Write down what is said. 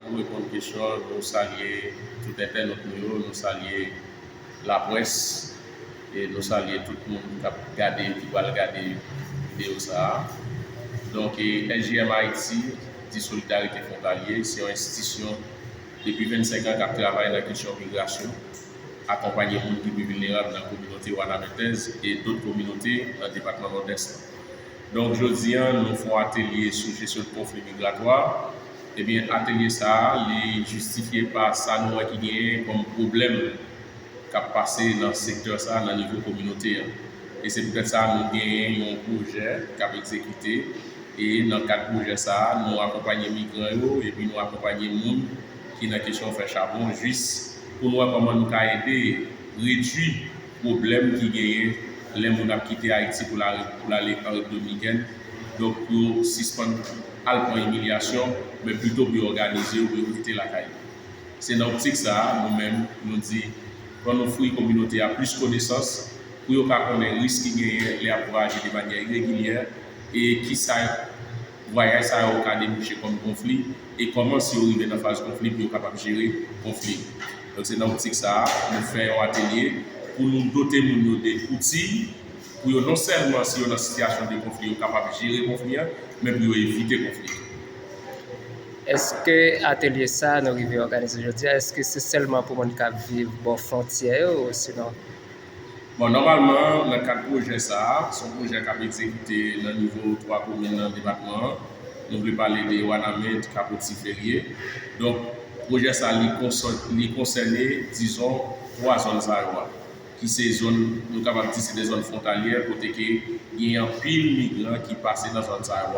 Pou reponn kesyon an, nou salye tout entènot nou yo, nou salye laprès e nou salye tout moun k ap gade, ki pral gade videyo sa a. Donk SJM Ayiti di Solidarite Fwontalye se yon enstitisyon depi 25 an k ap travay nan kesyon migrasyon, akonpanye moun ki pi vilnerab nan kominote Wanamenthese e dot kominote nan depatman Nòdès lan. Donk jodi an nou fon atelye sou jesyon konfli migratwa, ebyen atelye sa a li jistifye pa sa nou wè ki genyen kòm pwoblèm k ap pase nan sektè sa a nan nivo kominote an. E se poutèt sa nou genyen yon pwojè k ap egzekite e nan kad pwojè sa a nou akonpanye migran yo epi nou akonpanye moun ki nan kesyon fè chabon jis pou nou wè kòman nou ka ede redwi pwoblèm ki genyen lè moun ap kite Ayiti pou l ale an Rep Dominikèn, donk pou yo sispann al pran imilyasyon, men pito pou yo òganize yo pou yo rete lakay yo. Se nan optik sa a, nou menm, nou di, ann ofri kominote a plis konesans pou yo ka konnen risk ki genyen lè y ap vwayaje de manyè iregilyè e ki sa. vwayaj sa yo ka debouche kòm konfli e kòman si yo rive nan faz konfli pou yo kapab jere konfli. Donk se nan optik sa a nou fè yon atelye pou nou dote moun yo de outi pou yo non sèlman si yo nan sitiyasyon de konfli yo kapab jere konfli a men pou yo evite konfli yo. Èske atelye sa a nou rive òganize jodi a èske se sèlman pou moun k ap viv bò fwontyè yo osinon Bon, nòmalman, nan kad pwojè sa a, se yon pwojè k ap egzekite nan nivo twa komin nan depatman an. Nou vle pale de Wanament, Kapo Tiferye. Donk, pwojè sa a, li konsène, dizon, twa zòn sa yo a, ki se zòn, nou kapab di se de zòn fwontalyè kote ke gen anpil migran ki pase nan zòn sa yo a.